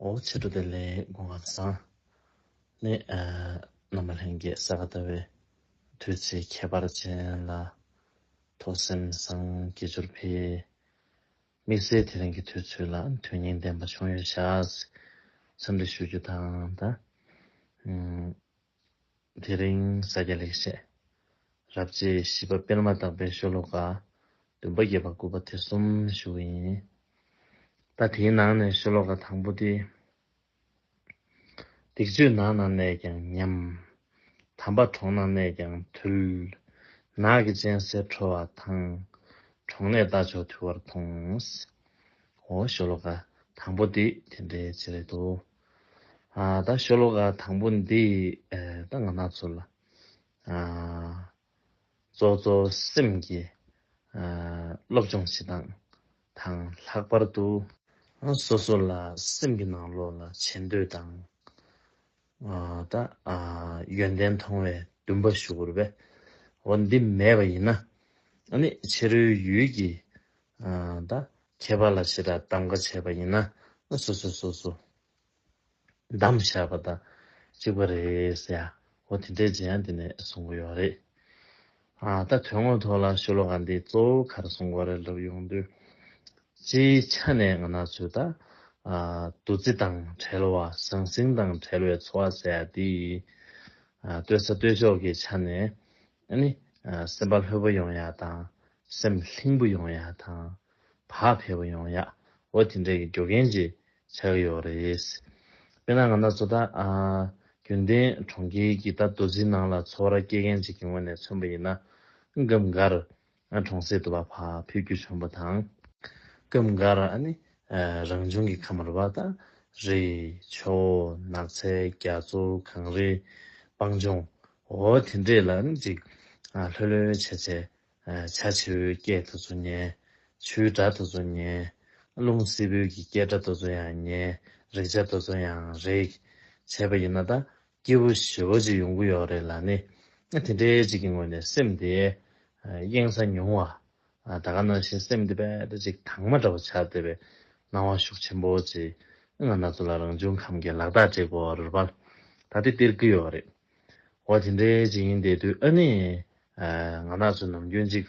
ཨོ་ཕྱི་དྲོ་བདེ་ལེགས་སྒོ་ང་བཟང། ནས་རྣམ་པ་ལྷན་སྐྱེས་གསལ་བ་ལྟ་བུའི། དུས་ཚིགས་ཁྱད་པར་ཅན་ལ། ཐོས་སེམས་སངས་རྒྱས་སྦྱོར་འཕེལ། དམིགས་བསལ་དེ་རིང་གི་དུས་ཚོད་ལ་དོན་སྙིང་ལྡན་པ་བྱུང་ཡོད་ཤག། འཚམས་འདྲི་ཞུ་རྒྱུ་དང། དེ་རིང་ས་སྐྱ་ལེགས་བཤད་རབ་བརྗེའི་བཞི་པ་སྤེལ་མ་ཐག་པའི་ཤོ་ལོ་ཀ་བདུན་པ་བརྒྱད་པ་དགུ་པ་དེ་གསུམ་བཞུགས་པ་ཡིན། ད་དེའི་ནང་ནས་ཤོ་ལོ་ཀ་དང་པོ་དེ། སྡིག་སྤྱོད་ནགས་ན་གནས་ཀྱང་ཉམས། དམ་པ་གྲོང་ན་གནས་ཀྱང་དུལ། ནགས་ཀྱི་སྤྱན་གསལ་འཕྲོ་བ་དང། གྲོང་ནས་རྟ་མཆོག་དུལ་བར་མཐོང། ཧོ། ཤོ་ལོ་ཀ་དང་པོ་དེ་དེ་འདྲའི་རྗེས་རེད་དོ། ད་ཤོ་ལོ་ཀ་དང་པོ་འདི་ད་ང་ནག་ཚོ་ལ་གཙོ་གཙོ་སེམས་ཀྱི་སློབ་སྦྱོང་བྱེད་སྟངས་དང་ལྷག་པར་དུ། སོ་སོ་ལ་སེམས་ཀྱི་ནང་ལོགས་ལ་བྱེད་འདོད་དང་ད་ཡོན་ཏན་མཐོང་བའི་འདུན་པ་ཞུ་དགོས་རེད་པས་འོ་འདི་མེད་པ་ཡིན་ན་ནི་ཕྱི་རོལ་ཡུལ་གྱི་ད་མཁས་པ་ལ་ཕྱི་དགྲ་གདམ་ག་བྱས་པ་ཡིན་ན་སོ་སོས་སོ་སོ་གདམ་བཞག་པ་དང་གཅིག་པ་རེད་ཡ་ཧོ་དེ་འདྲའི་རྗེ་ཡང་དེ་ནས་གསུང་གི་ཡོད་རེད། ད་དོན་དངོས་ཐོག་ལ་ཤོ་ལོ་ཀ་འདི་གཙོ་བོ་གར་གསུང་གོ་རེ་ལབ་ཡོང་དུས། སྤྱིའི་ཆ་ནས་ང་ནག་ཚོས་ད་བདུད་རྩི་དང་བྲལ་བ་ཟང་ཟིང་དང་བྲལ་བའི་འཚོ་བ་ཟེར་ཡ་འདི་ཡིན། ལྟོས་ས་ལྟོས་ཕྱོགས་ཀྱི་ཆ་ནས་ནི། སེམས་དཔའ་ལྷོད་པོ་ཡོང་ཡ་དང། སེམས་ལྷིང་པོ་ཡོང་ཡ་དང། བག་ཕེབས་པོ་ཡོང་ཡ། འོ་དེ་འདྲ་གི་འགྱོ་གན་ཅིག་ཆགས་ཀྱི་ཡོག་རེད། དཔེར་ན་ང་ནག་ཚོ་ད། རྒྱུན་ལྡན་གྲོང་ཁྱེར་གྱི་ད་རྡོ་རྫིའི་ནང་ལ་འཚོ་བ་ར་སྐྱེལ་མཁན་ཅིག་གི་ངོས་ནས་མཚོན་པ་ཡིན་ན། སྒམ་འགར། ང་གྲོང་གསེབ་ཏུ་བ་ཕ་ཕུད་རྒྱུ་བྱུང་བ་དང། སྐབས་འགར་ཨ་ནི་རང་བྱུང་གི་ཁམས་ར་བ་དང་རི། ཆུ། ནགས་ཚལ་རྒྱ་མཚོ་གངས་རི། སྤང་ལྗོངས། འོ་དེ་འདྲས་ལ་ཨ་ནི་ཅིག། ལྷོད་ལྷོད་བྱས་བྱས། བྱ་བྱེའུའི་སྐད་དེ་ཚོ་ཉན། ཆུའི་སྒྲ་དེ་ཚོ་ཉན། རླུང་བསིལ་བུལ་གྱི་སྐད་སྒྲ་དེ་ཚོ་ཡང་ཉན། རེག་བྱ་དེ་ཚོ་ཡང་རེག། བྱས་པ་ཡིན་ན་ད། སྐྱེས་བུ་བཞི་བོ་ཅིག་ཡོང་གི་ཡོད་རེད་ལ་ནི། དེ་འདྲའི་ཅིག་གི་ངོས་ནས་སེམས་དེ་གཡེང་ས་ཉུང་བ། ད་ག་ནང་བཞིན་སེམས་དེ་རྦད་དེ་ཅིག་དྭངས་མ་འདྲ་བོ་ཆགས་བསྡད་པའི་སྣང་བ་ཤུགས་ཆེན་པོ་ཅིག་ང་ན་ཚོད་ལ་རང་བྱུང་ཁམས་ཀྱི་ལག་རྟགས་དྲེག་པོ་རུ་བར་ད་དེ་སྟེར་གི་ཡོད་རེད། འོ་དེ་འདྲའི་ཅིག་ཡིན་བསྡད་དུས་ཨ་ནི། ང་ན་ཚོད་ནམ་རྒྱུན་ཅིག།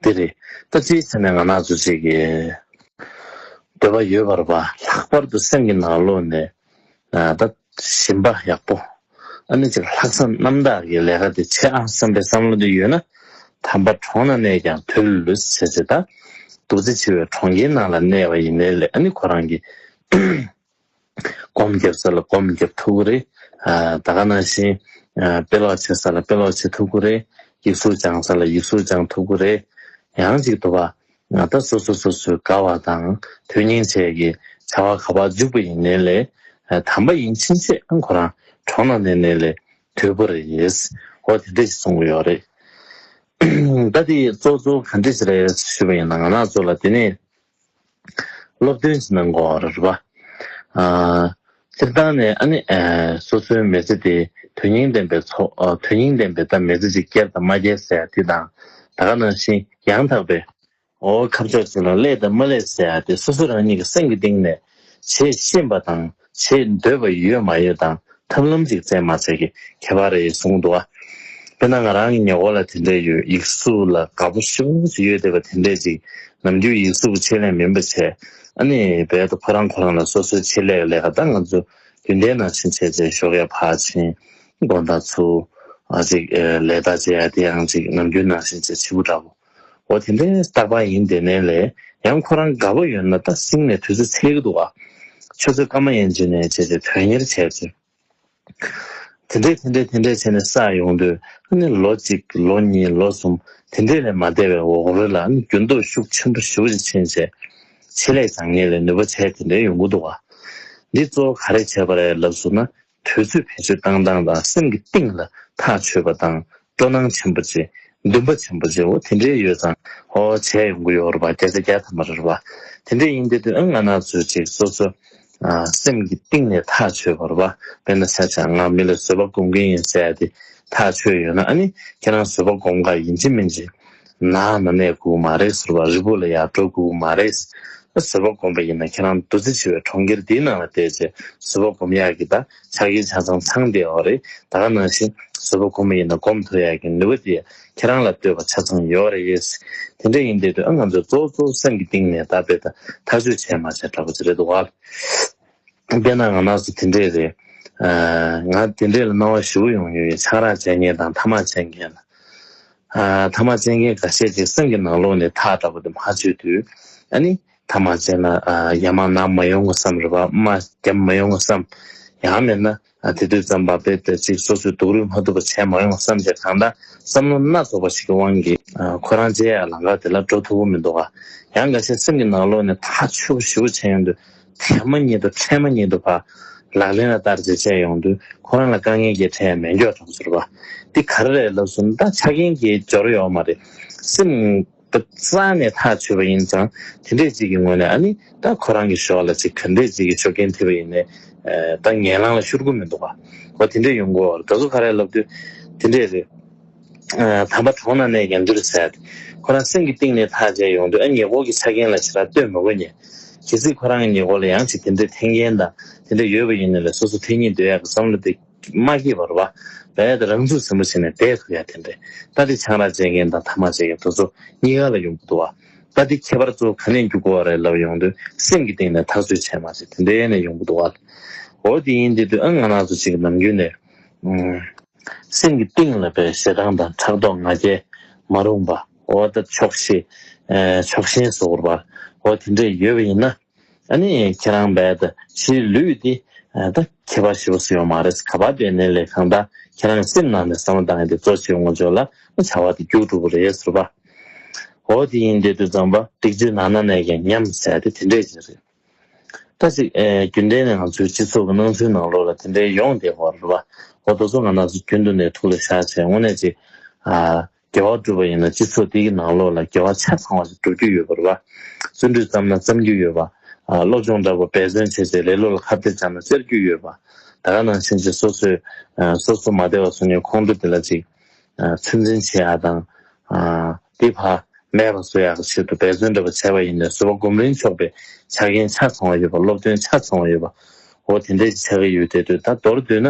འདི་རེད། ད་ཅིའི་ཕྱིར་ནས་ང་ནག་འཚོ་བྱེད་ཀྱི། འདོད་པ་ཡོད་པར་བ། ལྷག་པར་དུ་སེམས་ཀྱི་ནང་ལོགས་ནས་ད་ཞིམ་པ་ཡག་པོ། ཨ་ནེ་ཅིག་ལྷག་བསམ་རྣམ་དག་གིས་ལས་ཀ་འདི་བྱེད་ཨང་བསམ་པའི་བསམ་བློ་འདི་ཡོད་ན། དམ་པ་གྲོང་ན་གནས་ཀྱང་དུས་ལ་ལུས་སུ་བྱེད་ཅེས་ད། རྡོ་རྗེ་འཆི་བའི་གྲོང་ཁྱེར་ནང་ལ་གནས་བ་ཡིན་ནའི་ལས་ཨ་ནེ་ཁོ་རང་གིས། སྒོམ་རྒྱབ་ས་ལ་སྒོམ་རྒྱབ་ཐུག་གུ་རེད། ད་ག་ན་བཞིན། དཔེ་ཀློག་བྱེད་ས་ལ་དཔེ་ཀློག་བྱེད་ཐུག་གུ་རེད། ཡིག་གཟུགས་སྦྱང་ས་ལ་ཡིག་གཟུགས་སྦྱང་ཐུག་གུ་རེད། ཡང་ཅིག་དུ་བ། ད་སོ་སོ་སོ་སོའི་དགའ་བ་དང་དོན་སྙིང་བཅས་ཀྱི་བྱ་བ་ག་པར་འཇུག་པ་ཡིན་ནེ་ལེ། དམ་པ་ཡིན་ཕྱིན་ཆད་ཁོ་རང་གྲོང་ན་གནས་ནེ་ལེ་དུས་པོ་རེད། འོ་དེ་འདྲས་ཞིག་གསུང་གི་ཡོད་རེད། ད་དེ་གཙོ་གཙོ་ག་འདྲས་ཞིག་རེད་ཞུས་པ་ཡིན་ན་ང་ནག་ཚོ་ལ་དེ་ནས་སློབ་སྟོན་གྱི་གནང་སྒོ་ར་རུ་བ། སྤྱིར་བཏང་ནས་ཨ་ནི། སོ་སོའི་མེ་ལྕེ་དེ་དོན་སྙིང་ལྡན་པའི་ཚོ། དོན་སྙིང་ལྡན་པའི་ད་མེ་ལྕེ་གཅིག་སྐྱེར་དང་མ་སྐྱེར་ཟེར་ཡ་དེ་དང། ད་ག་ནང་བཞིན་ཡང་དག་པའི། འོ་ཁབ་ཆག་ཅིག་ལ་སླེ་དང་མ་སླེ་ཟེར་ཡ་དེ་སོ་སོ་རང་ཉིད་ཀྱི་སེམས་ཀྱི་གཏིང་ནས། ཞེས་ཤེས་པ་དང་ཞེས་འདོད་པ་ཡོད་མ་ཡོད་དང་ཐབས་ལམ་ཅིག་བཙལ་མ་བཙལ་གྱི་ཁྱད་པར་རེད་གསུངས་འདུག་དཔེར་ན་ང་རང་གི་ཉེ་འཁོར་ལ་དེ་འདྲས་ཡོད་ཡིག་གཟུགས་ལ་དགའ་པོ་ཧྲིལ་བོ་ཞིག་ཡོད་བསྡད་པ་དེ་འདྲས་ཅིག་ནམ་རྒྱུན་ཡིག་གཟུགས་ཀྱི་ཆེད་ལས་མིན་པ་བྱས་ཨ་ནི་རྦད་དུ་ཁོ་རང་ཁོ་རང་ལ་སོ་སོའི་ཆེད་ལས་ཀྱི་ལས་ཀ་དང་ང་ཚོ་རྒྱུན་ལྡན་ནང་བཞིན་བྱས་བྱས་ཞོག་ཡ་ཕར་ཕྱིན་དགོན་དང་ཚུར་ཅིག་ལས་དག་བྱས་ཡ་དེའང་ཅིག་ནམ་རྒྱུན་ནང་བཞིན་བྱས་ཕྱི་བུ་འདྲ་བོ། འོ་དེ་འདྲའི་རྟག་པ་ཡིན་དེ་ནས་ལས་ཡང་ཁོ་རང་དགའ་བོ་ཡོད་ན་ད་སིང་ནས་དུས་ཚོད་ཚེགས་ཀྱི་འདུག་ཨ། ཁྱོད་ཚོས་སྐར་མ་ཡན་ཅིག་ནས་བྱས་ཏེ་དོན་གཉེར་བྱས་ཚོད། དེ་འདྲས་དེ་འདྲས་དེ་འདྲས་བྱས་ནས་བསགས་ཡོང་དུས་ཨ་ནི་ལོ་གཅིག་ལོ་གཉིས་ལོ་གསུམ་དེ་འདྲས་ལས་མ་འདས་པའི་འོག་རོལ་ལ་ཨ་ནི་འགྱུར་ལྡོག་ཤུགས་ཆེན་པོ་ཞི་བ་ཞིག་ཕྱིན་བྱས། ཆེད་ལས་བྱ་ངེས་ལས་ནུས་པ་བྱས་དེ་འདྲས་ཡོང་གི་འདུག་ཨ། འདི་གཙོ་བོ་ག་རེ་བྱས་པ་རེད་ལབ་ཟུར་ན་དུས་ཚོད་བེད་སྤྱོད་བཏང་སྟངས་དང་སེམས་ཀྱི་གཏིང་ལ་ཐག་ཆོད་པ་དང་སྤྲོ་སྣང་ཆེན་པོ་བྱེད། འདུན་པ་ཆེན་པོ་བྱེད་འོ་དེ་འདྲའི་ཡོད་ཙང་ཧོ་བྱས་ཡོང་གི་ཡོད་རེད་པ་བརྒྱ་ཆ་བརྒྱ་ཐ་མ་རེད་པ་དེ་འདྲས་ཡིན་དེ་དུས་ཨང་ང་ན་ཚོད་ཅིག་སོ་སོ་སེམས་ཀྱི་གཏིང་ནས་ཐག་ཆོད་པ་རེད་པ་དཔེར་ན་ཤ་ཆག་ང་མི་ལ་བཟོད་པ་སྒོམ་གིན་ཡིན་ཟེར་ཡ་དེ་ཐག་ཆོད་ཡོད་ན་ཨ་ནི་ཁྱེད་རང་བཟོད་པ་སྒོམ་ག་ཡིན་གཅིག་མིན་གཅིག་ན་མི་གནས་སྒུག་མ་རེད་ཟེར་བ་རི་བོ་ལ་ཡར་འགྲོ་སྒུག་མ་རེད། ཟིལ་བ་སྒོམ་པ་ཡིན་ན་ཁྱེད་རང་འདུ་འཛི་ཆེ་བའི་གྲོང་ཁྱེར་འདིའི་ནང་ལ་བསྡད་རྗེས་ཟིལ་བ་སྒོམ་ཡག་གི་ད་ཆ་གིན་ཆ་ཚང་ཚང་བསྡད་འོག་རེད་ད་ག་ནང་བཞིན་ཟིལ་བ་སྒོམ་པ་ཡིན་ན་སྒོམ་ཐུབ་ཡག་གི་ནུས་པ་དེ་ཁྱེད་རང་ལ་ལྟོས་པ་ཆ་ཚང་ཡོད་རེད་ཡེས། དེ་འདྲ་ཡིན་བསྡད་དུས་ཨ་ང་ཚོས་གཙོ་བཙོ་སེམས་ཀྱི་གཏིང་ནས་ད་བེད་ཐག་གཅོད་བྱས་མ་བྱས་འདྲ་པོ་ཅི་རེད་འདུག་བལ་བསྟན་ན་ང་ནགས་སུ་དེ་འདྲས་རེད། ང་དེ་འདྲས་ལ་སྣང་བ་བཞི་བོ་ཡོང་ཡོད་ཡིན་ཆང་རག་བྱས་མཁན་དང་ཐ་མག་བྱས་མཁན་ལ། ཐ་མ་བཙལ་མཁན་འགའ་ཤས་ཀྱིས་སེམས་ཀྱི་ནང་ལོགས་ནས་ཐག་ལྟ་བུ་དེ་མ་བཅོས་དུས། ཨ་ནི། ཐ་མ་བཙལ་ན་ཡ་མ་ནག་མ་ཡོང་ངོ་བསམ། རེ་བར་མ་བརྒྱབ་མ་ཡོང་ངོ་བསམ། ཡང་མེད་ན། དེ་དུས་ཙམ་བབ་པས་ད་ཅིག་སོ་སོས་སྡུག་རུས་མ་ཐུབ་པ་བྱས་མ་ཡོང་ངོ་བསམ་བྱས་གང་ལྟར་བསམ་བློ་སྣ་ཚོགས་པ་ཞིག་གི་དབང་གིས་ཁོ་རང་རྗེས་ཡར་ལང་ཁར་དེ་ལ་འགྲོ་ཐུབ་བོ་མི་འདུག་ག། ཡང་འགའ་ཤས་སེམས་ཀྱི་ནང་ལོགས་ནས་ཐག་ཆོད་པོ་ཞིབ་པོ་བྱས་ཡོང་དུས་མཚན་མོ་ཉིད་དུ་མཚན་མོ་ཉིད་དུ་བ། ལག་ལེན་ལ་བསྟར་ཚེ་ཆད་ཡོང་དུས་ཁོ་རང་ལ་དཀའ་ངལ་གྱི་ཁྲལ་མེད་མགྱོགས་གྲོང་ཚོར་བ། འདི་ག་རེ་རེད་ལབ་སོང་ད་ཆ་རྒན་གྱི་སྦྱོར་ཡོག་མ་རེད། སེམས་ད་རྩ་ནས་ཐག་ཆོད་པ་ཡིན་ཙང་དེ་འདྲས་ཅིག་གི་ངོས་ནས་ཨ་ནི་ད་ཁོ་རང་གི་ཞོགས་ལ་ཅིག་ག་འདྲས་ཅིག་གི་ཞོགས་ཀྱིན་ཐིབ་པ་ཡིན་ནའི་ད་ངན་ལང་ལ་ཤོར་གུ་མི་འདུག་བ། བ་དེ་འདྲས་ཡོང་གུ་འོར་ད་གཟུགས་ག་རེ་ལབ་དུས་དེ་འདྲས་རེད། དམ་པ་གྲོང་ན་གནས་ཀྱང་འདིར་འཚལ། ཁོ་རང་སེམས་ཀྱི་གཏིང་ནས་ཐག་བཅད་ཡོང་དུས་ཨ་མྱེས་ཀོག་གི་ཆ་རྐྱེན་ལ་ཇི་ལྟར་ལྟོས་མི་དགོས་སྙམ། གལ་སྲིད་ཁོ་རང་གི་མྱེས་ཀོག་ལ་ཡང་ཅིག་དེ་འདྲའི་ཐན་རྐྱེན་དང་དེ་འདྲ་ཡོད་པ་ཡིན་ན་ལས་སོ་སོ་འཐེན་གྱིན་སྡོད་ཡག་གི་བསམ་བློ་དེ་མ་སྐྱེས་པར་བ་བས་ད་རང་ཚུགས་ཟིན་པོ་བྱས་ནས་བསྡད་ཐུབ་ཡ་དེ་འདྲས་ད་དེ་ཆང་རག་བཅད་མཁན་དང་ཐ་མག་བཅད་མཁན་དོལ་ཚོ་གཉིས་ག་ལ་ཡོང་གི་འདུག་ཨ། ད་དེ་ཁྱད་པར་ཚོ་ག་ནས་འགྱུར་དགོས་བ་རེད་ལབ་ཡོང་དུས་སེམས་ཀྱི་གཏིང་ནས་ཐག་ཚུད་བྱས་མ་བྱས་དེ་འདྲས་ནས་ཡོང་གི་འདུག་ཨ། འོ་དེ་ཡིན་དེ་དུས་ཨ་ང་ནག་ཚོ་གཅིག་གི་ནམ་རྒྱུན་ནས། སེམས་ཀྱི་གཏིང་ལ་པའི་ཞེ་སྡང་དང་ཕྲག་དོག་ང་རྒྱལ་མ་རུངས་པ། འོ་ད་ཆོག་ཤེས། ཆོག་ཤེས་བཟོ་བར་བར། འོ་དེ་འདྲས་ཡོད་པ་ཡིན་ན། ཨ་ནི་ཁྱེད་རང་འབའ་ད་ཕྱིའི་ལུས་འདི་ད་ཁྱད་པར་ཞིབ་པོ་བཟོ་ཡོང་མ་རེད་ག་པར་འབྲས་ནད་ལས་གང་དག་ཁྱེད་རང་གི་སེམས་ནང་ནས་བསམ་བློ་བཏང་ཡོད་དེ་གཙོ་ཆེའི་ངོ་ཅོག་ལ་བྱ་བ་དེ་རྒྱུགས་འགྲོ་གི་རེད་ཟེར་བ། འོ་དེ་ཡིན་འདི་དུས་ཙམ་པར་སྡིག་སྤྱོད་ནང་ན་ནས་ཀྱང་ཉམས་བསད་དེ་དེ་འདྲས་ཀྱི་རེད། ཐ་ཚིག། རྒྱུན་ལྡན་ནས་ང་ཚོའི་སྤྱི་ཚོགས་ཀྱི་སྣང་ཚུལ་ནང་ལོགས་ལ་དེ་འདྲའི་ཡོང་བསྡད་བར་རོ། ཨོ་ད་སོ་ང་ནགས་སུ་རྒྱུན་དུ་ནས་ཐུགས་ལ་བཞག་བྱས་དངོས་གནས་ཅིག། དགེ་བ་བསྒྲུབ་པ་ཡིན་ན་སྤྱི་ཚོགས་འདི་གི་ནང་ལོགས་ལ་དགེ་བ་ཆ་ཚང་བ་ཞིག་བསྒྲུབ་རྒྱུ་ཡོད་པར་རོ། བརྩོན་འགྲུས་བརྩམས་ན་བརྩམ་རྒྱུ་ཡོད་པ། སློབ་སྦྱོང་འདྲ་པོ་འབད་བརྩོན་བྱས་བྱས་ལེ་ལོ་ལ་ཁ་བརྡལ་སྦྱར་ན་བཅར་རྒྱུ་ཡོད་པ། ད་ག་ནང་བཞིན་ཅིག་སོ་སོས་སོ་སོ་མ་བདེ་བ་སོང་ཉོན་ཁོང་ཁྲོ་དེ་ལ་ཅིག། ཚོད་འཛིན་བྱེད་ཨ་དང། དེ་བར་མེད་པར་བཟོ་ཡག་གི་ཆེད་དུ་འབད་བརྩོན་འགྲུབ་པ་བྱས་པ་ཡིན་ནའི་བཟོ་བ་སྒོམ་རིན་ཆོག་པའི་ཆ་རྐྱེན་ཆ་ཚང་བ་ཡོད་པ་སློབ་སྟོན་ཆ་ཚང་བ་ཡོད་པ། འོ་དེ་འདྲའི་ཆ་གི་ཡུལ་དེ་དུས་ད་མདོར་བསྡུས་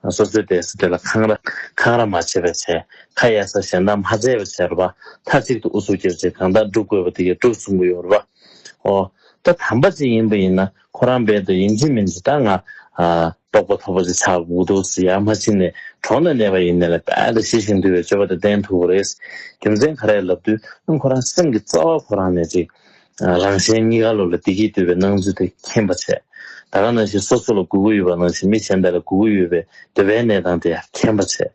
ན་སོ་སོའི་སྡེ་སྲིད་དེ་ལ་འཁང་ར་འཁང་ར་མ་བྱས་པའི་བྱས་ཁ་གཡར་ས་གཞན་དག་མ་བཙལ་བའི་བྱས་ར་བ་མཐའ་གཅིག་ཏུ་ཨུ་ཚུགས་རྒྱབ་རྗེས་གང་དག་བསྒྲུབ་དགོས་པ་དེ་ཀྱང་བསྒྲུབ་གསུང་གི་ཡོད་ར་བ། འོ་ད་དམ་པ་ཅིག་ཡིན་པ་ཡིན་ན་ཁོ་རང་འབད་དུ་ཡིན་གྱི་མིན་གྱི་ད་ང། རྟོགས་པ་ཐོབ་པ་ཞིག་ཆགས་འགུག་འདུག་ཟེར་ཡག་མ་ཕྱིན་ནས་གྲོང་ན་གནས་པ་ཡིན་ནས་ལ་དཔལ་དང་ཤེས་བཞིན་འདུལ་བའི་སྤྱོད་པ་དེ་བསྟན་ཐུབ་པ་རེད། རྒྱུ་མཚན་ག་རེ་ལབ་དུས་ཁོ་རང་སེམས་ཀྱི་རྩ་བ་ཁོ་རང་ནས་ཅིག། རང་གཞན་གཉིས་ཀ་བློ་ལ་བདེ་སྐྱིད་འདོད་པའི་སྣང་ཚུལ་དེ་ཁེངས་པ་བྱས། ད་ག་ནང་བཞིན་སོ་སོ་ལ་སྒུག་གི་ཡོད་པ་ནང་བཞིན་མི་གཞན་དག་ལ་སྒུག་གི་ཡོད་པའི་འདོད་པའི་གནས་སྟངས་དེ་ཡང་ཁེངས་པ་བྱས།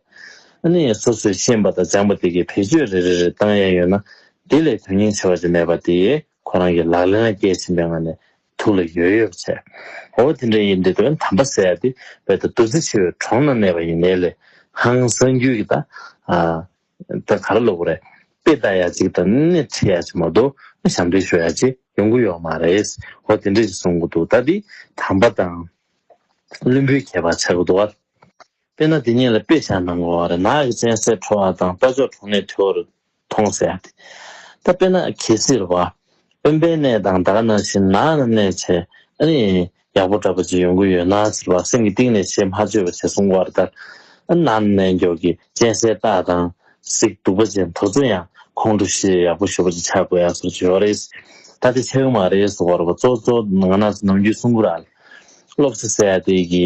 ཨ་ནི་སོ་སོས་ཤེས་པ་དང་སྦྱངས་པ་དེ་གའི་བེད་སྤྱོད་རེ་རེ་རེ་བཏང་ཡས་ཡོད་ན། དེ་ལས་དོན་སྙིང་ཆེ་བ་ཅིག་མེད་པ་དེ། ཁོ་རང་གིས་ལག་ལེན་ལ་བསྐྱལ་ཟིན་པའི་ངང་ནས་ཐུགས་ལ་ཡོད་ཡོད་བྱས། ཨོ་དེ་འདྲ་ཡིན་དུས་དོན་དམ་པ་ཟེར་ཡག་དུས་བོད་ད་བདུད་རྩི་ཆེ་བའི་གྲོང་ན་གནས་པ་ཡིན་ནའི་ལས་ཧང་བསང་རྒྱུད་ཀྱི་ད་ད་ག་ར་བློ་བུ་རེད་དཔེ་ལྟ་ཡག་ཅིག་དང་སྣེ་ཁྲིད་ཡག་ཅིག་མ་གཏོགས་ཞབས་འདེགས་ཞུ་ཡག་ཅིག་ཡོང་གི་ཡོད་མ་རེད་ཨོ་དེ་འདྲ་ཞིག་གསུང་གི་འདུག་ད་འདི་དམ་པ་དང་བླུན་པོའི་ཁྱད་པར་ཆགས་ཀྱི་འདུག་ཨ། དཔེར་ན་དེ་གཉིས་ལ་དཔེ་བཞག་ནང་གི་བ་ར་ནག་གི་སྤྱན་གསལ་ཁྲོ་བ་དང་རྟ་མཆོག་གྲོང་ནས་ཐོས་བར་མཐོང་ཟད་དེ། ད་དཔེར་ན་གལ་སྲིད་བ་དཔོན་པའི་གནས་དང་བདག་ན་བཞིན་ན་ན་གནས་བྱེད་ཨ་ནི་ཡག་པོ་འདྲ་པོ་ཅིག་ཡོང་གི་ཡོད་ན་ཟེར་བ་སེམས་ཀྱི་གཏིང་ནས་ཆེས་མ་འཇོས་པ་བྱས་སོང་བར་ལྟར་ཨ་ན་ན་གནས་མགྱོགས་ཀྱི་གཅན་གཟན་རྟ་དང་གཟིག་སྡུག་པ་ཅན་དོར་ཚུན་ཡང་ཁོང་ཁྲོ་ཤེས་ཡག་པོ་ཞུ་བ་ཅིག་ཆགས་དགོས་ཡག་སོགས་བརྗོད་རེས་ད་དེ་ཆགས་ཀྱི་མ་རེད་སོགས་བར་བ་ཙོག་ཙོག་ང་ན་ཚོ་ནམ་རྒྱུན་སུང་གུ་ར་ལ་སློབ་ས་ཟད་དེ་གི་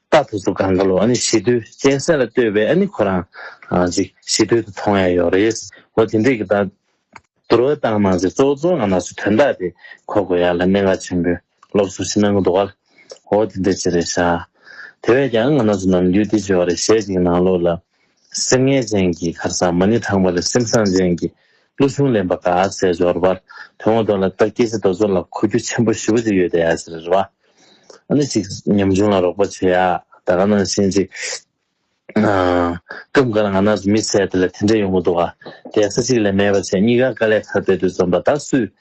རྟག་ཏུ་གཟུགས་གང་ག་ལོ་ཨཱ་ནི་ཞི་དུལ་གཅན་གཟན་ལ་ལྟོས་པའི་ཨཱ་ནི་ཁོ་རང་ཅིག་ཞི་དུལ་དུ་མཐོང་ཡང་ཡོད་རེད། འོ་དེ་འདྲས་ཀྱི་དག་བསྡུར་བ་བཏང་ན་ཅིག་གཙོ་བོ་གཙོ་བོ་ང་ནགས་སུ་དོན་དག་དེ་གོ་དགོས་ཡ་ལ་གནད་འགག་ཆེན་པོའི་སློབ་གསོ་ཞིག་གནང་གི་འདུག་ག་ལ། འོ་དེ་འདྲས་ཅི་རེད་ཤག། དེ་བས་ཀྱང་ང་ནགས་སུ་ནམ་རྒྱུན་དེ་བྱོས་བ་རེད་ཞེས་ཅིག་ནང་ལོགས་ལ་སེམས་ངལ་ཅན་གྱི་གར་སར་མ་ཎི་དྲངས་པ་ལས་སེམས་བཟང་ཅན་གྱི་ཀླུ་གཞུང་ལེན་པ་དགའ་ཟས་འབྱོར་པ་དོན་ངོ་མདོག་ལ་བལྟ་སྐྱེ་ཤི་རྡོ་ཟོར་ལ་གོ་རྒྱུ་ཆེན་པོ་བཞི་བོ་ཅིག་ཡོད་དེ་ཟེར་བ་ནི་ཅིག་ཉམ་ཆུང་ལ་རོགས་པ་བྱེད་ཡག་ད་ག་ནང་བཞིན་ཅིག་སྐབས་འགར་ང་ན་ཟུག་མི་བྱེད་དེ་ལ་དེ་འདྲ་ཡོང་གི་འདུག་ག་དེ་ས་ཅིག་ལས་མེད་པ་བྱས་གཉིས་ཀ་དཀའ་ལས་ཁ་གཏད་དུ་འཛོམས་པ་ད་སུས།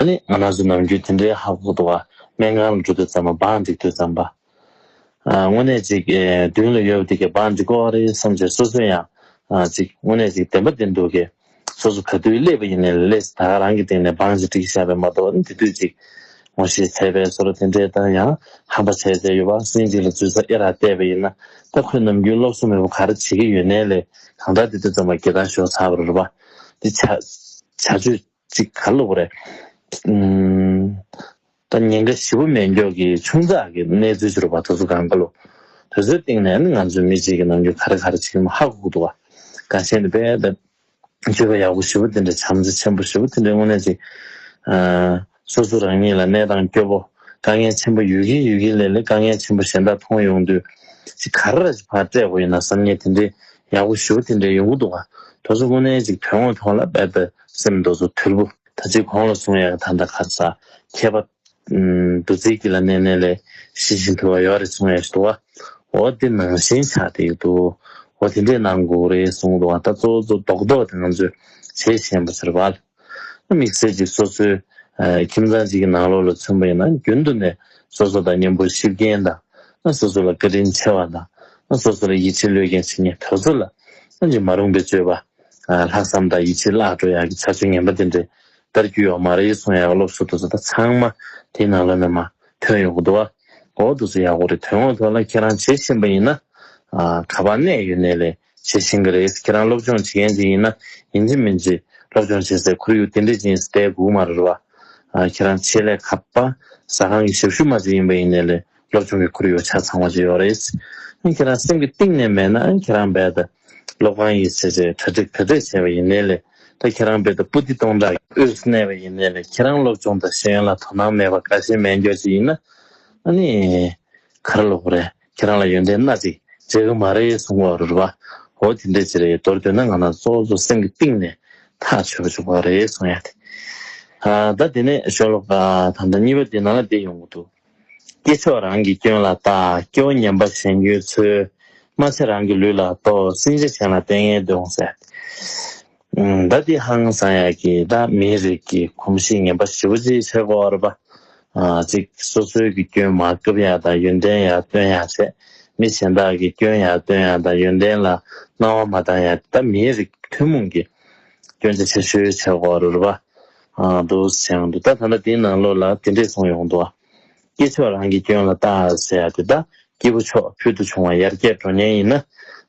ད་ནི་ང་ནག་ཆུ་ནམ་རྒྱུན་དེ་འདྲའི་ཧབ་ཧབ་ཏུ་བ་སྨན་ཁང་ལ་འགྲོ་དུས་ཙམ་པོ་འབངས་འགྲིག་དུས་ཙམ་པ། དངོས་གནས་ཅིག་མདུན་ལ་ཡོད་པ་འདི་གས་འབངས་འགྲིག་གོ་རེད་བསམ་བྱས་སོ་སོས་ཡང་ཅིག་དངོས་གནས་ཅིག་བདེན་པ་བདེན་འདུག་གས་སོ་སོ་ག་དུས་སླེབས་པ་ཡིན་ནའི་སླེས་ད་ག་རང་གི་སྟེང་ནས་འབངས་ཅིག་འགྲིག་བཞག་པས་མ་གཏོགས་དེ་དུས་ཅིག་ངོ་ཤེས་ཚལ་པའི་སོ་ར་དེ་འདྲའི་ལྟར་ཡང་ཧམ་པ་བྱས་བྱས་ཡོད་པ་སྲིང་གཅིག་ལ་འཛུལ་ས་ཨེ་རག་བལྟས་པ་ཡིན་ན་ད་ཁོས་ནམ་རྒྱུན་སློབ་གསོ་མི་བོ་ག་རེ་བྱེད་ཀྱི་ཡོད་ནའི་ལས་གང་དྲག་དེ་དུས་ཙམ་པ་དགེ་ལྟ་ཞོག་ཚར་བ་རེད་པ་འདི་བྱ་བྱ་བྱོས། ཅིག་ག་ལོག་རེད། ད་ཉེན་ཁ་ཞི་བོ་མེད་མགྱོགས་ཀྱི་ཆུང་ཙག་གི་གནས་ཚུལ་ཅི་རུ་བ་ད་ཚུ་གང་ག་ལོ། དེ་ཚོའི་སྟེང་ནས་ང་ཚོའི་མི་གཅིག་གི་ནང་རྒྱུ་ག་རེ་ག་རེ་བྱེད་ཀྱི་མ་ཧ་གོ་འདུག་བ། ག་ཤེད་ནི་པས་ད། སྤྱོད་པ་ཡག་པོ་ཞི་བོ་དེ་འདྲ་བྱམས་བརྩེ་ཆེན་པོ་ཞི་བོ་དེ་འདྲའི་དངོས་གནས་ཅིག། སོ་སོ་རང་ཉིད་ལ་གནས་སྟངས་སྐྱོ་པོ། དཀའ་ངལ་ཆེན་པོ་ཡོད་ཀྱིན་ཡོད་ཀྱིན་ལས་ལས་དཀའ་ངལ་ཆེན་པོ་གཞན་དག་མཐོང་ཡོང་དུས། ཅིག་ག་རེ་ར་ཅིག་ཕར་སྤྲད་དགོས་ཡིན་ན་བསམ་ངན་དེ་འདྲའི་ཡག་པོ་ཞི་བོ་དེ་འདྲའི་ཡོང་གི་འདུག་བ། ད་ཚུ་དངོས་གནས་ཅིག་དོན་དངོས་ཐོག་ལ་པས་ད། སེམས་རྡོ་རྫུ་ཐུལ་བུ། ད་ཅི་གོང་ལ་གསུང་ཡ་ག་ད་འདའ་གར་ས། ཁྱད་པ། འདུ་འཛི་གི་ལ་གནས་གནས་ལས། ཤི་ཤི་འཐུལ་བ་ཡོ་རེ་གསུང་ཡ་ཤི་འདུ་བ། འོ་དེ་ནང་བཞིན་ཆགས་དེ་ཡོད་འདུ། འོ་དེ་འདྲས་ནང་གུག་རེ་གསུང་འདུ་བ་ད་གཙོ་གཙོ་མདོག་མདོག་དེ་ང་ཚོས་བྱེད་བཞིན་པ་ཟེར་བལ། དམིགས་བསལ་གྱི་སོ་སོའི། ཁྱིམ་ཚང་གཅིག་གི་ནང་ལོག་ལ་མཚོན་པ་ཡིན་ན་རྒྱུན་དུ་ནས་སོ་སོ་དང་མཉམ་པོ་གཤིབ་མཁན་དང། སོ་སོ་ལ་བཀའ་དྲིན་ཆེ་བ་དང། སོ་སོ་ལ་ཡིད་ཆེས་བློས་འགེངས་བྱེད་མཁན་དོལ་ཚོ་ལ། ཅི་མ་རུང་པའི་སྤྱོད་པ། ལྷག་བསམ་དང་ཡིད་ཆེས་བརླག་འགྲོ་ཡག་གི་ཚ་ཚུལ་ངན་པ་འདི་འདྲས་དར་རྒྱུ་ཡོག་མ་རེད་གསུང་ཡག་གི་སློབ་གསོ་དུ་ཚོད་ད་ཚང་མ་དེ་ནང་ལོན་ནས་མ་ཐོན་ཡོག་གི་འདུག་ཨ་འོ་དུ་ཚོད་ཡག་གོ་རེད་དོན་དངོས་ཐོག་ལ་ཁྱེད་རང་བྱེད་བཞིན་པ་ཡིན་ན་ག་པར་གནས་ཡོད་གནས་ལས་བྱེད་བཞིན་གི་རེད་ཁྱེད་རང་སློབ་སྦྱོང་བྱེད་མཁན་ཅིག་ཡིན་ན་ཡིན་གཅིག་མིན་གཅིག་སློབ་སྦྱོང་བྱེད་སའི་ཁོར་ཡུག་དེ་འདྲས་ཅིག་ཡིན་སའི་དད་གུས་མ་རེད་བ་ཁྱེད་རང་ཆེད་ལས་ག་པར་ཟ་ཁང་གི་ཞབས་ཞུ་མ་ཅིག་ཡིན་པ་ཡིན་གནས་ལས་སློབ་སྦྱོང་གི་ཁོར་ཡུག་ཆ་ཚང་བ་ཞིག་ཡོད་རེད། ཨང་ཁྱེད་རང་སེམས་ཀྱི་གཏིང་ནས་མེད་ན་ཨང་ཁྱེད་རང་རྦད་དེ་སློབ་ཁང་ཡི་ཆེས་ཆེ་གྲ་སྒྲིག་བེད་སྤྲོད་བྱས་པ་ཡིན་ནའི་ལས་ད་ཁྱེད་རང་རྦད་དེ་པུ་ཏི་སྟོང་ཕྲག་གི་དབུས་སུ་གནས་པ་ཡིན་ནའི་ལས་ཁྱེད་རང་སློབ་སྦྱོང་དང་ཤེས་ཡོན་ལ་དོ་སྣང་མེད་པ་ག་ཤེད་སྨད་འགྱོ་ཅིག་ཡིན་ན་ཨ་ནི་ག་རེ་ལོག་གི་རེད་ཁྱེད་རང་ལ་ཡོན་ཏན་སྣ་གཅིག་མཇལ་གི་མ་རེད་གསུང་བ་རུ་རྦ་འོ་དེ་འདྲས་ཅིག་རེད་མདོར་བསྡུས་ན་ང་རང་གཙོ་བོ་སེམས་ཀྱི་གཏིང་ནས་ཐག་ཆོད་པ་བཅུག་པ་རེད་གསུང་ཡ་དེ་ད་དེ་ནས་ཞོ་ལོ་ཀ་དང་ད་གཉིས་པ་དེ་ནང་ལ་བསྡད་ཡོང་གི་འདུག། སྐྱེས་མཆོག་རང་གི་སྐྱོན་ལ་བརྟག། སྐྱོ་ཉམས་པ་གཞན་སྐྱོན་འཚོལ། སྨྲ་བྱེད་རང་གི་ལུས་ལ་རྟོག། སྲིན་བྱ་གཞན་ལ་ལྟས་ངན་གདོན། ཟླ་འདི་ཧང་སང་ཡག་གི་ཟླ། མིའི་རིགས་ཀྱི་གོམས་གཤིས་ངན་པ་བཞི་པོ་ཅིའི་ཕྱིར་འགོར། པ་གཅིག་སོ་སོའི་གི་སྐྱོན་མ་སྐབས་ཡག་དང་ཡོན་ཏན་ཡག་སྟོན་ཡག་བྱེད། མི་གཞན་དག་གི་སྐྱོན་ཡག་སྟོན་ཡག་དང་ཡོན་ཏན་ལ་སྣང་བ་མ་བཏང་ཡག་གི་ཟླ། མིའི་རིགས་ཀྱི་ཐུན་མོང་གི་སྐྱོན་ཆ་ཆེ་ཤོས་ཕྱིར་འགོར། པ་བསྡུ་ཞིང་བསྡུ་ལྟ་ད་ལྟ་འདི་ན་ལོ་ལ་དེ་འདྲས་སོང་ཡོང་འདུག་སྐྱེས་མཆོག་རང་གི་སྐྱོན་ལ་ལྟ་ཟེར་ཡག་འདུག་ད་སྐྱེས་བུ་མཆོག་ཕུལ་དུ་བྱུང་བ་ཡར་རྒྱས་འགྲོ་ཉེན་ཡིན་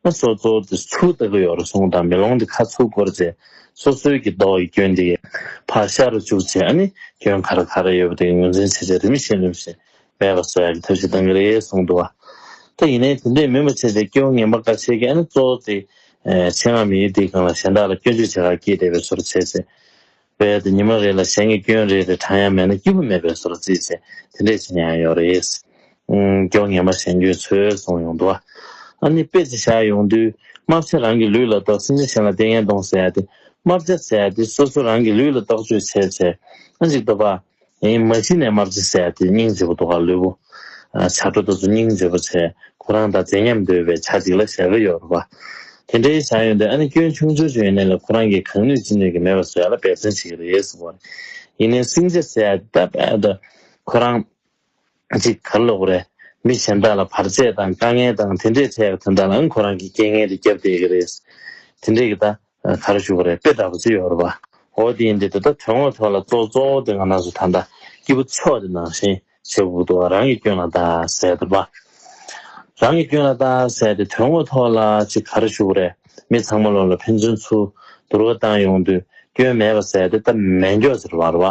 ན་སོ་སོ་དེ་ཚུར་ལྟ་གི་ཡོག་རེ་ཟུང་དང་མེ་ལོང་དེ་ཁ་ཚུར་བསྐོར་རྗེས་སོ་སོའི་གི་མདོག་གི་སྐྱོན་དེ་ཕར་ཤར་རུ་བཅུག་རྗེས་ཨ་ནི་སྐྱོན་ག་རེ་ག་རེ་ཡོད་པ་དེ་ངོས་འཛིན་བྱེད་བྱེད་རིམ་བཞིན་རིམ་བཞིན་སྦས་པ་སོགས་ཀྱི་ཐབས་ཤིག་གཏང་གི་རེད་གསུངས་འདུག་ད་ཡིན་ནའི་དེ་འདྲའི་མི་མ་བྱེད་དེ་སྐྱོ་བོ་ངན་པ་འགའ་བྱེད་མཁན་གཙོ་བོ་དེ་ཆེད་མངགས་མི་ཡུལ་དེའི་གང་ལ་གཞན་དག་ལ་སྐྱོན་བརྗོད་བྱེད་ཁག་སྐྱེས་བསྡད་པའི་བཟོ་རུ་བྱེད་ཚེ་རྦད་དེ་ཉི་མ་རེ་ལ་གཞན་གྱི་སྐྱོན་རེ་རེ་བགྲང་ཡ་མེད་ན་སྐྱིད་པོ་མེད་པའི་བཟོ་རུ་བརྩིས་ཚེ་དེ་འདྲས་བྱེད་མྱ་ཡང་ཡོག་རེད། སྐྱོ་བོ་ངན་པ་གཞན་སྐྱོན་ཚོད་གསུངས་ཡོང་འདུག་ཨ་ནི་དཔེ་ཅིག་བཞག་ཡོང་དུས་དམར་བྱ་རང་གི་ལུས་ལ་བཏགས་སེམས་ཅན་གཞན་ལ་ལྟས་ངན་གཏོང་ཟེར་ཡ་དེ་དམར་བྱ་ཟེར་ཡ་དེ་སོ་སོ་རང་གི་ལུས་ལ་བཏགས་བཅོས་བྱས་ཚེ་ཨ་འཇིག་ཏོ་པ། ཡིན། མ་གཞི་ནས་དམར་རྗེ་སྲས་དེ་སྙིང་རྗེ་བོ་དོ་ག་ལུས་པོ། བྱ་སྒྲོ་ད་ཚོ་སྙིང་རྗེ་བོ་ཆེ་ཁོ་རང་ད་མཛེས་ཉམས་དོད་པའི་བྱ་གཅིག་ལ་ཞལ་བེ་ཡོར་བ། དེ་འདྲའི་བྱ་ཡོད་འདི་ཨ་ནི་སྐྱོན་ཆུང་ཆོས་ཆུང་ཡིན་ནའི་ལ་ཁོ་རང་གིས་གང་ནུས་ཅི་ནུས་ཀྱི་མེད་པ་བཟོས་ལ་འབད་བརྩོན་བྱེད་ཀྱི་རེད་ཟེར་བ་རེད། ཡིན་ནའི་སིང་རྗེ་སྲས་ད་བས་ད་ཁོ་རང། གཅིག་གར་ལོག་པ་རེད། མི་གཞན་དག་ལ་བར་ཆད་དང་དཀའ་ངལ་དང་དེ་འདྲའི་འཕྲད་ཡོད་པ་དེ་འདྲ་ལའང་ཁོ་རང་གིས་རྐྱེན་ངན་དེ་བརྒྱབ་བསྡད་ཀྱི་རེད། དེ་འདྲས་ཀྱི་ད་གར་བཞུགས་པ་རེད་དཔེ་ད་བོ་ཅི་ཡོད་རེད་པ། འོ་དེ་ཡིན་དེ་ད་ལྟ་དོན་དངོས་ཐོག་ལ་གཙོ་གཙོ་བོ་དེ་ང་ནགས་སུ་ད་ལྟ་སྐྱིད་པོ་ཕྱོགས་དེ་ནང་བཞིན་བྱེད་དགོས་ཀྱི་འདུག་རང་གི་སྐྱོན་ལ་ད་ཟེར་ཐུབ་པ། རང་གི་སྐྱོན་ལ་བརྟག་བསལ་ཏེ་དོན་དངོས་ཐོག་ལ་ཅི་ག་རེ་ཞུགས་རེད་མི་ཚང་མ་བློ་ལ་ཕན་ཚུན་ཚུར་བསྡུར་བ་བཏང་ཡོང་དུས་སྐྱོན་མེད་པ་ཟེར་ཏེ་སྟབས་མེད་མགྱོགས་ཟེར་བར་བ་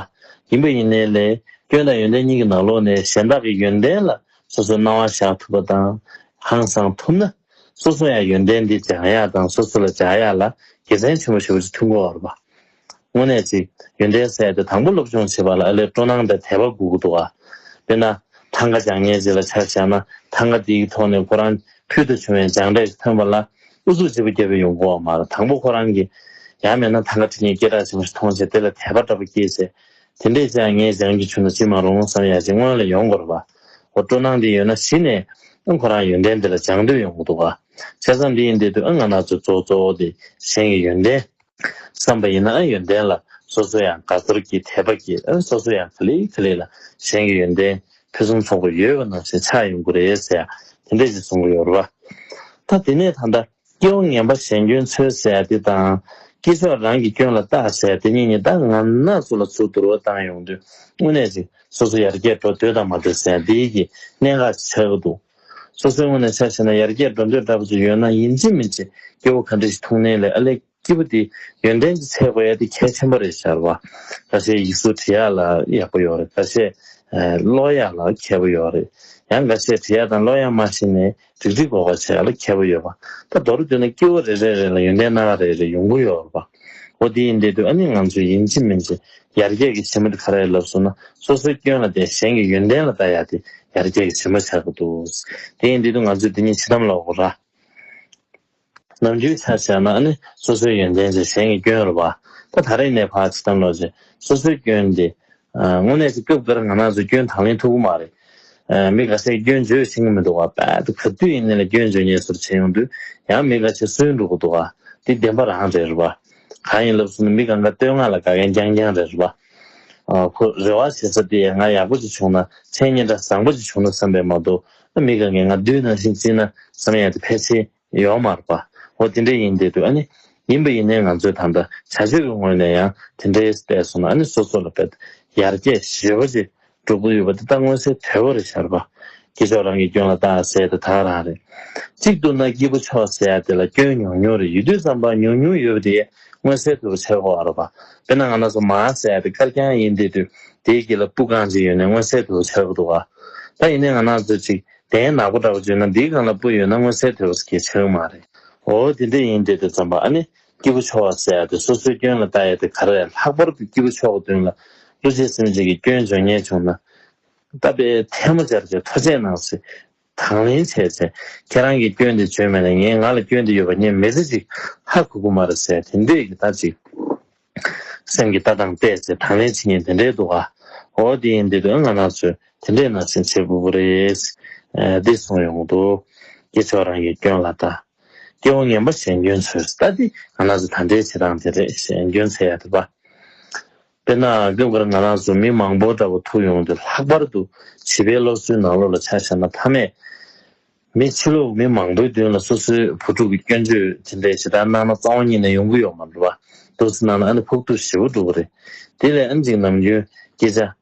ཡིན་པ་ཡིན་ནའི་ལས་སྐྱོན་དང་ཡོན་ཏན་གཉིས་ཀྱི་ནང་ལོགས་ནས་གཞན་དག་གི་ཡོན་ཏན་ལ་སོ་སོའི་སྣང་བ་བཞག་ཐུབ་པ་དང་ཧང་སང་ཐུབ་ན་སོ་སོ་ཡང་ཡོན་ཏན་འདི་སྦྱང་ཡག་དང་སོ་སོ་ལ་སྦྱར་ཡག་ལ་དགེ་མཚན་ཆེན་པོ་ཞེ་པོ་ཅིག་ཐོན་དགོས་བར་བ་དངོས་གནས་ཅིག་ཡོན་ཏན་ཟད་དེ་དང་པོ་སློབ་སྦྱོང་བྱེད་པ་ལ་ཨ་ལས་སྤྲོ་སྣང་དང་དད་པ་དགོས་ཀྱི་འདུག་ཨ། དཔེར་ན། ཐང་ག་སྦྱང་ཉལ་ཅིག་ལ་ཆ་བཞག་ན་ཐང་ག་དེའི་ཐོག་ནས་ཁོ་རང་ཕུལ་དུ་བྱུང་བའི་སྦྱངས་འབྲས་ཤིག་ཐོན་པ་ལ་ཨུ་ཚུགས་བྱེད་པོ་བརྒྱ་པའི་ཡོང་སྒོ་བ་མ་རེད་དང་པོ་ཁོ་རང་གིས་ཡང་མེད་ན་ཐང་ག་དེ་ཉིད་སྐད་གྲགས་ཆེན་པོ་ཞིག་མཐོང་ཆེད་དེ་ལ་དད་པ་འདྲ་པོ་སྐྱེས་ཆེད་དེ་འདྲས་ཅིའང་ངས་སྦྱང་རྒྱུ་བྱུང་ན་ཅི་མ་རུང་བསམ་ཡ་ཞིག་སྔོན་ལ་ཡོང་དགོས་རེད་པ། འོ་སྤྲོ་སྣང་དེ་ཡོད་ན་གཞི་ནས་ཨང་ཁོ་རང་ཡོན་ཏན་དེ་ལ་སྦྱང་འདོད་ཡོང་གི་འདུག་ཨ། བྱས་ཙང་འདི་ཡིན་འདི་འདུག་ཨང་ང་ནག་ཚོས་གཙོ་བོ་དེ་གཞན་གྱི་ཡོན་ཏན། བསམ་པ་ཡིན་ན་ཡོན་ཏན་ལ་སོ་སོ་ཡང་དགའ་ཚོར་གྱིས་དད་པ་སྐྱེ་སོ་སོ་ཡང་ག་ལེགས་ག་ལེགས་ལ་གཞན་གྱི་ཡོན་ཏན་ཕུན་སུམ་ཚོགས་པ་ཡོད་པ་རྣམས་ཞེས་ཆགས་ཡོང་གི་རེད་ཟེར་ཡང་དེ་འདྲས་ཅིག་གསུང་གི་ཡོད་རེད་པ། ད་དེ་ནས་ད་ལྟ་སྐྱེ་བོ་ངན་པ་གཞན་སྐྱོན་འཚོལ་ཟེར་དེ་དང། སྐྱེས་མཆོག་རང་གི་སྐྱོན་ལ་བརྟག་ཟེར་དེ་གཉིས་གཉིས་ད་ང་ན་སུ་ལ་སུ་བསྡུར་བ་བཏང་ཡོང་དུས་དངོས་གནས་ཅིག་སོ་སོ་ཡར་རྒྱས་འགྲོ་འདོད་དང་མ་འདོད་ཟེར་འདི་ཡི་གི་གནད་འགག་ཅིག་ཆགས་ཀྱི་འདུག་སོ་སོའི་སྔུན་ནས་ཆ་བྱས་ན་ཡར་རྒྱས་འགྲོ་འདོད་འདྲ་པོ་ཅིག་ཡོད་ན་ཡིན་གཅིག་མིན་གཅིག་སྐྱེ་བོ་ག་འདྲ་ཞིག་མཐོང་ནའི་ལས་ཨ་ལས་སྐྱིད་པོ་འདི་ཡོན་ཏན་གྱི་ཚད་བས་དེ་གལ་ཆེན་པོ་རེད་ཤར་བ་འགའ་ཤས་ཡིག་གཟུགས་བྲི་ཡག་ལ་ཡག་པོ་ཡོད་རེད་འགའ་ཤས་ཀློག་ཡག་ལ་མཁས་པོ་ཡོད་རེད་ཡང་འགའ་ཤས་བྲི་ཡག་དང་ཀློག་ཡག་མ་ཤེས་ནས་འགྲིག་འགྲིག་འགོག་པ་བྱེད་ཡག་ལ་མཁས་པོ་ཡོད་པ་ད་མདོར་བསྡུས་ན་སྐྱེ་བོ་རེ་རེ་རེ་ལ་ཡོན་ཏན་སྣ་ཁ་རེ་རེ་ཡོང་གི་ཡོད་རེད་པ་འོ་དེ་ཡིན་དེ་དུས་ཨ་ནི་ང་ཚོས་ཡིན་གཅིག་མིན་གཅིག་ཡར་རྒྱས་ཀྱི་བྱེ་མ་འདི་ག་རེད་ལབ་སོང་ན་སོ་སོའི་སྐྱོན་ལ་བརྟེན་གཞན་གྱི་ཡོན་ཏན་ལ་བལྟ་ཡག་དེ་ཡར་རྒྱས་ཀྱི་བྱེ་མ་ཆགས་ཀྱི་འདུག་དེ་ཡིན་དུས་དུ་ང་ཚོས་འདི་གཉིས་ཕྱི་དམ་ལ་འོག་ར། ནམ་རྒྱུན་ཆ་བཞག་ན་ནི་སོ་སོའི་ཡོན་ཏན་བྱས་གཞན་གྱི་སྐྱོན་རུ་བ། ད་ད་རེས་ནས་བར་ཕྱི་དམ་ལོག་རྗེས་སོ་སོའི་སྐྱོན་དེ། དངོས་གནས་ཅི་སྐབས་འགར་ང་ནང་ཚོས་སྐྱོན་དང་ལེན་ཐུབ་ཀྱི་མ་རེད། མི་ག་ཤེད་སྐྱོན་བརྗོད་བྱེད་ཀྱི་མི་འདུག་ག་པད་དུ་ག་དུས་ཡིན་ནའི་སྐྱོན་བརྗོད་ཉེས་ཟུར་བྱས་ཡོང་དུས་ཡང་མི་ག་ཤེད་གསོན་འགྲོ་གི་འདུག་ག་འདི་བདེན་པ་རང་རེད་རུ་བ། གང་ཡིན་ལབ་སུ་ནི་མི་གང་ག་བསྟོད་བསྔགས་ལ་དགའ་མཁན་རྐྱང་རྐྱང་རེད་རེད་པ། ཁོ་རེ་བ་བྱེད་ས་དེ་ཡ་ང་ཡག་པོ་ཅིག་བྱུང་ན་མཚན་སྙན་གྲགས་བཟང་པོ་ཅིག་བྱུང་ན་བསམ་པས་མ་གཏོགས་ཨ་མི་གང་གིས་ང་བསྡུས་ནང་བཞིན་བརྩིས་ན་བསམ་ཡག་དེ་ཕལ་ཆེར་ཡོད་མ་རེད་པ། འོ་དེ་འདྲས་ཡིན་བསྡད་འདུག་ཨ་ནི། ཡིན་པ་ཡིན་ནའི་ང་ཚོས་ད་ལྟ་བྱ་སྤྱོད་ཀྱི་ངོས་ནས་ཡང་དེ་འདྲས་བསྡད་སོང་ན་ཨ་ནི་སོ་སོ་ལ་བསྡད་ཡར་རྒྱས་ཞེ་པོ་ཅིག་སྒྲུབ་དགོས་ཡོད་པ་འདི་དག་མངོན་གསལ་དོད་པོ་རེད་ཤར་པ། སྐྱེས་མཆོག་རང་གི་སྐྱོན་ལ་བལྟ་ཟེར་དེ་དག་རང་རེད། གཅིག་བསྡུར་ན་སྐྱེས་བུ་མཆོག་ཟེར་ཡ་དེ་ལ་སྐྱོན་ཉུང་ཉུང་རེད་ཡུལ་དུས་ཙམ་པ་ཉུང་ཉུང་ཡོད་པ་དེ་མངོན་གསལ་དོད་པོ་བྱེད་དགོས་རོགས་པ། དཔེར་ན་ང་ན་ཟུག་མ་ཟེར་དེ་དཀར་རྐྱང་ཡིན་དེ་དུས་དེའི་དཀྱིལ་ལ་སྤུ་རྐང་གཅིག་ཡོད་ནས་མངོན་གསལ་དོད་པོ་བྱེད་དགོས་འདུག་ག། ད་ཡིན་ནའི་ང་ན་ཟུག་ཅིག་དེའི་ནག་པོ་འདྲ་པོ་བརྗོད་ན་འདིའི་རྐང་ལ་སྤུ་ཡོད་ན་མངོན་གསལ་དོད་པོ་བྱེད་དགོས་ཀྱི་མ་རེད། འོ་དེ་འདྲ་ཡིན་དེ་དུས་ཙམ་པ་ཨ་ནི། སྐྱེས་བུ་མཆོག་བསད་དེ་སོ་སོའི་སྐྱོན་ལ་བལྟ་ཡ་དེ་ག་རེ། ལྷག་པར་དུ་སྐྱེས་བུ་མཆོག་གི་དོན་ལ་ཀླུ་བྱེད་སེམས་ཅན་གྱི་སྐྱོན་འབྱུང་ཉེན་བྱུང་ན། བལྟ་པའི་ཐལ་མོ་སྦྱར་བྱའི་ཐོ་ཆས་གནང་སྲིད། དང་ལེན་བྱས་ཚེ། ཁྱེད་རང་གིས་སྐྱོན་དེ་བརྗོད་མེད་ན་ངས་ང་ལ་སྐྱོན་དེ་ཡོད་པ་ཉན་མི་ཟེར་ཅིག་ཧ་གུ་གུ་མ་རེད་ཟེར་དེ་འདྲས་ཀྱི་ལྟ་ཅིག། སེམས་ཀྱི་ལྟ་སྟངས་བལྟས་ཚེ་དང་ལེན་བྱེད་ཉེན་དེ་འདྲས་འདུག་ཨ། འོ་དེ་ཡིན་དེ་དོན་ང་ནག་ཚོས་དེ་འདྲས་ནང་བཞིན་བྱེད་དགོས་ཀྱི་རེད། འདི་གསུངས་ཡོང་དུ། སྐྱེས་མཆོག་རང་གི་སྐྱོན་ལ་བལྟ། སྐྱེ་བོ་ངན་པ་གཞན་སྐྱོན་ཚོལ་ས་ལྟ་དེ་ང་རང་ཚོ་ད་ལྟའི་བྱེད་སྟངས་དེ་རེད་གཞན་སྐྱོན་འཚལ་ཡག་ཐུབ་པ། དཔེར་ན་སྐབས་འགར་ང་རང་ཚོ་མི་མང་པོ་འདྲ་པོ་ཐུག་ཡོང་དུས་ལྷག་པར་དུ་བྱིས་པའི་སློབ་གསོའི་ནང་ལོ་ལ་ཆ་བཞག་ན་མཐའ་མས་མི་ཕྱི་ལོག་མི་མང་པོའི་མདུན་ལ་སོ་སོའི་བུ་ཕྲུག་གི་སྐྱོན་བརྗོད་དེ་འདྲའི་ཇི་ལྟར་གནང་ན་གཙང་བོ་གཉིད་ནས་ཡོང་གི་ཡོག་མ་འགྲོ་བ། ཏོག་ཙི་གནང་ན་ཨ་ནི་ཕོག་ཐུག་ཞེ་བོ་འགྲོ་གི་རེད། དེ་ལས་ཨམ་གཅིག་ནམ་རྒྱུན་སྐྱེས་བྱ།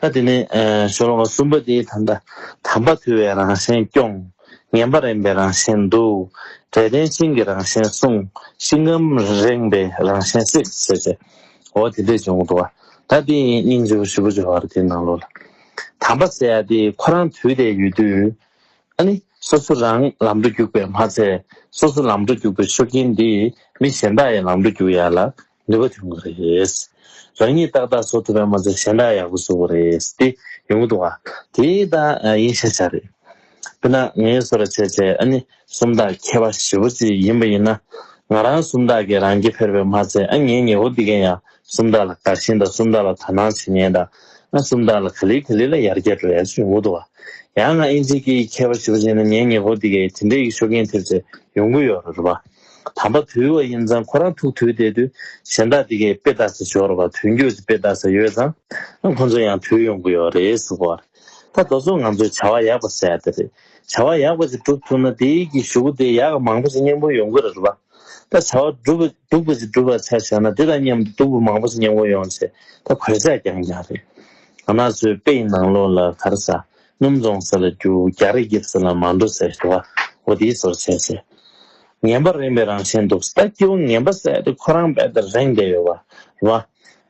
ད་དེ་ནས་ཞོ་ལོ་ཀ་གསུམ་པ་དེའི་ད་ལྟ་དམ་པ་དུལ་བའི་རང་བཞིན་སྐྱོང། ངན་པ་རེངས་པའི་རང་བཞིན་འདུལ། དགྲ་ལྡན་ཤིང་གི་རང་བཞིན་སྲུང། ཤིང་སྐམ་རེངས་པའི་རང་བཞིན་བསྲེག། ཞེས་བྱ་བ་དེ་འདྲས་འབྱུང་འགྲོ། ད་དེ་ཡི་སྙིང་བཅུ་བཞི་པོ་སྦྱོར་བར་དེའི་ནང་ལོགས་ལ། དམ་པ་སེ་ཡ་དེ་ཁོ་རང་དུལ་དེ་ཡོད་དུས། ཨ་ནི། སོ་སོ་རང་ལམ་འགྲོ་རྒྱུག་པས་མ་ཚད། སོ་སོ་ལམ་འགྲོ་རྒྱུག་པའི་ཆོས་ཀྱིན་དེ། མི་གཞན་དག་ཡི་ལམ་འགྲོ་རྒྱུག་ཡ་ལ། ནུས་པ་འབྱུང་གི་རེད། རང་ཉིད་ཏག་ཏག་བཟོ་ཐུབ་པའི་མ་ཚད་གཞན་དག་ཡག་པོ་བཟོ་གི་རེད་དེ་ཡོང་གི་འདུག་ཨ། དེ་དང་དབྱིན་ཞྭ་ཆ་རེད། དཔེར་ན་ངའི་བཟོ་ར་ཆེ་ཆེ་ཨ་ནི་སུམ་རྟགས་མཁས་པ་བཞི་བོ་ཅིག་ཡིན་པ་ཡིན་ན། ང་རང་སུམ་རྟགས་ཀྱི་རང་སྐྱེ་འཕེར་པའི་མ་ཚད་ཨ་ངའི་ཉེ་འཁོར་འདི་གན་ཡང་སུམ་རྟགས་ལ་དགའ་ཞེན་དང་སུམ་རྟགས་ལ་དག་སྣང་བྱེད་ཉེན་དང་ཨ་སུམ་རྟགས་ལ་ག་ལི་ག་ལི་ལ་ཡར་རྒྱས་འགྲོ་ཡས་ཡོང་གི་འདུག་ཨ། ཡང་ང་དབྱིན་ཇིའི་སྐད་ཡིག་མཁས་པ་བཞི་བོ་ཅིག་ཡིན་ན་ངའི་ཉེ་འཁོར་འདི་གའི་དེ་འདྲའི་ཡིག་ཤོ་གན་ཐེབས་ཚད་ཡོང་གི་ཡོད་རེད་པ། དམ་པ་དུལ་བ་ཡིན་ཙང་ཁོ་རང་ཐུག་དུས་དེ་དུས་གཞན་དག་འདི་གའི་དཔེ་བལྟ་ས་འབྱོར་བར་དུས་འགྱུར་གྱི་དཔེ་བལྟ་ས་ཡོད་ཙང་ཁོ་ཚོ་ཡང་དུལ་ཡོང་གི་ཡོད་རེད་ཟེར་བར། ད་རྡོ་ཚོ་ང་ཚོས་བྱ་བ་ཡག་པ་ཟེར་ཡག་དེ་རེད། བྱ་བ་ཡག་པ་ཅིག་སྒྲུབ་ཐུབ་ན་དེའི་གྱི་ཞུ་གུ་དེ་ཡག་གི་མང་པོ་ཞིག་སྙིང་བོ་ཡོང་གི་རེད་བ། ད་བྱ་བ་སྒྲུབ་སྡུག་པ་ཅིག་སྒྲུབ་པར་ཆ་བཞག་ན་དེ་དང་མཉམ་དུ་སྡུག་པོ་མང་པོ་ཞིག་སྙིང་བོ་ཡོང་ཆེད་ད་གོད་ཆག་རྐྱང་རྐྱང་རེད། ང་ཚོའི་དཔེ་ཡི་ནང་ལོགས་ལ་གར་ས་སྣུམ་རྫོང་ཟེར་ལ་རྒྱུ་རྒྱ་རི་དབྱིབས་ཟེར་ལ་མ་འདུག་ཟེར་ཞེས་པ་བོ་དེའི་སོར་ཆེན་ཟེར། ངན་པ་རེངས་པའི་རང་བཞིན་འདུག་ཟླ་སྐྱིད་བོ་ངན་པ་ཟད་དེ་ཁོ་རང་རྦད་དེ་རེངས་བསྡད་ཡོད་པ། བ།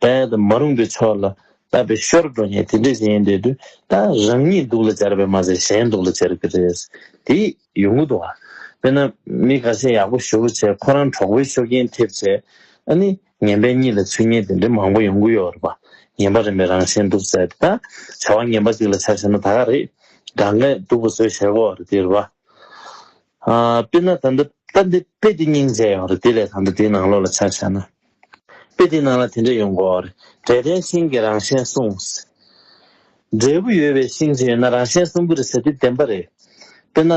རྦད་དེ་མ་རུངས་པའི་ཕྱོགས་ལ་བལྟ་བའི་ཤོར་འགྲོ་ཉེས་དེ་འདྲས་ཞིག་ཡིན་བསྡད་དུས་ད་རང་ཉིད་སྡུག་ལ་སྦྱར་བས་མ་ཟད་གཞན་སྡུག་ལ་སྦྱར་གི་རེད། དེ་ཡོང་གི་འདུག་བ། དཔེར་ན་མི་འགའ་ཤས་ཡག་པོ་ཞུ་བོ་བྱས་ཁོ་རང་གྲོགས་པོའི་ཤོ་རྐྱེན་ཐེབས་བྱས། ཨ་ནི། ངན་པའི་གཉིད་ལ་ཆུ་གཉིད་དེ་འདྲའི་མང་པོ་ཡོང་གི་ཡོད་རེད་པ། ངན་པ་རིམ་པའི་རང་བཞིན་འགྲུབ་ཟེར་ཏེ། བྱ་བ་ངན་པ་གཅིག་ལ་བྱ་ཞེན་ན་ད་ག་རེད། དགྲ་ངན་སྡུག་པོ་བཟོས་ཞེས་གོ་རེད་དེ་རེད་པ། དཔེར་ན་ད་ལྟ་འདི་དཔེ་འདི་སྙིང་རྗེ་ཡོང་རེད་དེ་ལས་ད་ལྟ་འདིའི་ནང་ལོགས་ལ་བྱ་བྱས་ན། དཔེ་འདིའི་ནང་ལ་དེ་འདྲས་ཡོང་གོ་རེད། དགྲས་དེའི་ཤིང་གི་རང་བཞིན་བསྲུངས། འབྲས་བུ་ཡོད་པའི་ཤིང་གཅིག་ཡོད་ན་རང་བཞིན་བསྲུང་གི་རེད་ཟེར་དེ་བདེན་པ་རེད། དཔེར་ན།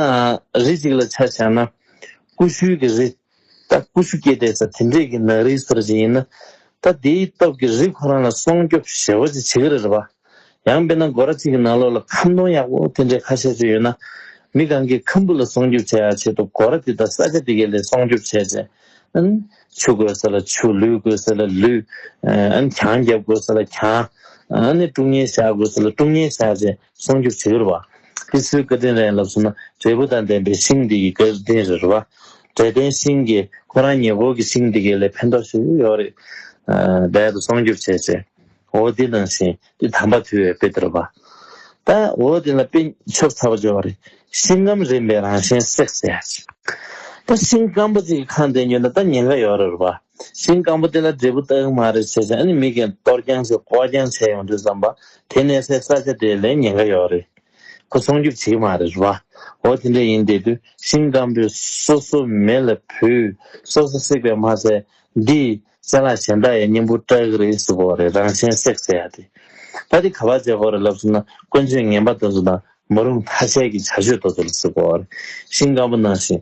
རི་གཅིག་ལ་བྱ་བྱས་ན། ཀུ་ཤུའི་གི་རི། ད་ཀུ་ཤུ་སྐྱེས་དེ་ས་དེ་འདྲས་ཀྱི་ནག་རིལ་ཟེར་བྱེད་ཡིན་ན། ད་དེའི་སྟོབས་ཀྱིས་རིགས་ཁོ་རང་ལ་སྲོང་སྐྱོབ་ཞེ་བོ་ཅིག་བྱེད་ཀྱི་རེད་པ། ཡང་དཔེར་ན་སྒོ་ར་གཅིག་གི་ནང་ལོགས་ལ་ཁམ་སྡོང་ཡག་པོ་དེ་འདྲས་ཁ་ཤས་ཤིག་ཡོད་ན། མི་གང་གིས་ཁམ་བུ་ལ་སྲོང་སྐྱོབ་བྱེད་ཡག་ཆེད་དུ་སྒོ་ར་དེ་དང་ས་ཆ་དེ་གའི་ལས་སྲོང་སྐྱོབ་བྱས་རྗེས། ཆུ་དགོས་ས་ལ་ཆུ་ལུད་དགོས་ས་ལ་ལུད། གྱང་རྒྱབ་དགོས་ས་ལ་གྱང། ཀྲུང་ཉལ་བཞག་དགོས་ས་ལ་ཀྲུང་ཉལ་བཞག་རྗེས། གསུང་གི་ཟེའུ་རུ་བ། ཏི་སེའུ་སྐལ་ལྡན་ར་ཡིན་ལབ་གསུངས་ན་འབྲས་བུ་དང་ལྡན་པའི་ཤིང་འདི་ཡི་སྐལ་ལྡན་རི་རུ་བ། འབྲས་ལྡན་ཤིང་གི་ཁོ་རང་ཉེ་འཁོར་གི་ཤིང་འདི་གའི་ལས་ཕན་ཐོགས་ཤིག་ཡོད་རེད། རྦད་དུ་གསུང་རྒྱུར་བྱས་ཟེར། འོ་དེ་ནང་བཞིན་དེ་དམ་པ་ཐུལ་བའི་དཔེ་དེ་རུ་བ། ད་འོ་དེ་ལ་དཔེ་ཆོག་ཚ་བ་འཇོག་བ་རེད། ཤིང་སྐམ་རིམ་པའི་རང་བཞིན་བསྲེགས་ཟེར། ད་ཤིང་སྐམ་པོ་ཅིག་གི་ཁང་དེ་ཉོས་ན་ད་ཉེན་ཁ་ཡོད་རེད་རུ་བ། ཤིང་སྐམ་པོ་དེ་ལ་འབྲས་བུ་རྟགས་མ་རེད་བྱས་ཤིང་ཨ་ནི་མིག་གིས་གཏོར་རྐྱང་བྱས་སྐོར་རྐྱང་བྱས་ཡོང་དུས་བསམ་པ་དེ་གནས་སའི་ས་ཆ་དེ་ལས་ཉེན་ཁ་ཡོད་རེད། ཁོ་སྲུང་སྐྱོབ་བྱེད་ཀྱི་མ་རེད་བ། འོ་དེ་འདྲ་ཡིན་དེ་དུས་ཤིང་སྐམ་པོས་སོ་སོ་མེ་ལ་བུས་སོ་སོ་བསྲེགས་པས་མ་ཚད་འདིས་གསལ་ལག་གཞན་དག་ཡང་སྙིང་པོ་སྐྲག་རེད་ཟེར་དགོས་རེད་རང་གཞན་བསྲེགས་ཟེར་ཡ་དེ་ཕ་དེ་ག་པར་བྱས་དགོས་རེད་ལབ་སོང་ན་དཀོན་མཆོག་ངན་པ་དེ་ཚོ་དང་མ་རུང་ཐ་ཤལ་གྱི་བྱ་སྤྱོད་དེ་ཚོ་ལ་ཟེར་དགོས་རེད་ཤིང་སྐམ་པོ་ནང་བཞིན་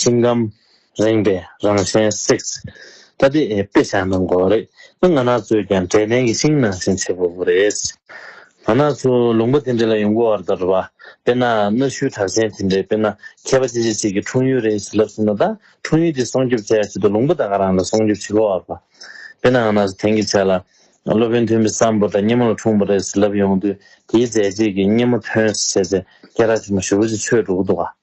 སེམས་ཁམས་རེངས་པའི་རང་བཞིན་བསྲེགས། ད་ལྟའི་དཔེ་ཆ་ནང་གོ་རེད། ང་ནག་ཚོས་ཀྱང་དྲན་རྟེན་གྱི་ཤིང་ནང་བཞིན་བྱེད་ཕོད་པོ་རེད། ང་ནག་ཚོ་ལུང་པ་དེ་འདྲ་ལ་ཡོང་གོ་བར་དར་བ། དཔེར་ན་གནའ་ཤུལ་གྲགས་ཅན་དེ་འདྲའི་དཔེར་ན་མཁས་པ་ཅི་ཆེ་ཅིག་གིས་འཁྲུངས་ཡུལ་རེད་ཞེས་ལབ་སོང་ན་ད་འཁྲུངས་ཡུལ་དེ་སྲོང་སྐྱོབ་བྱ་ཡག་ཆེད་དུ་ལུང་པ་དག་ག་རང་ལ་སྲོང་སྐྱོབ་བྱེད་གོ་བར་དཔའ། དཔེར་ན་ང་ནག་ཚོ་དེང་གི་ཆ་ལ་སློབ་དཔོན་མཐོན་པོའི་ས་འབོར་དང་སྙེ་མོ་ལ་འཁྲུངས་པོ་རེད་ཟེར་ལབ་ཡོང་དུས་དེའི་མཛད་རྗེས་ཀྱིས་སྙེ་མོ་མཐོན་ཟེར་ཚེ་སྐད་རགས་ཆེན་པོ་ཞུ་བོ་ཅིག་ཆོད་འགྲོ་གི་འདུག་ག།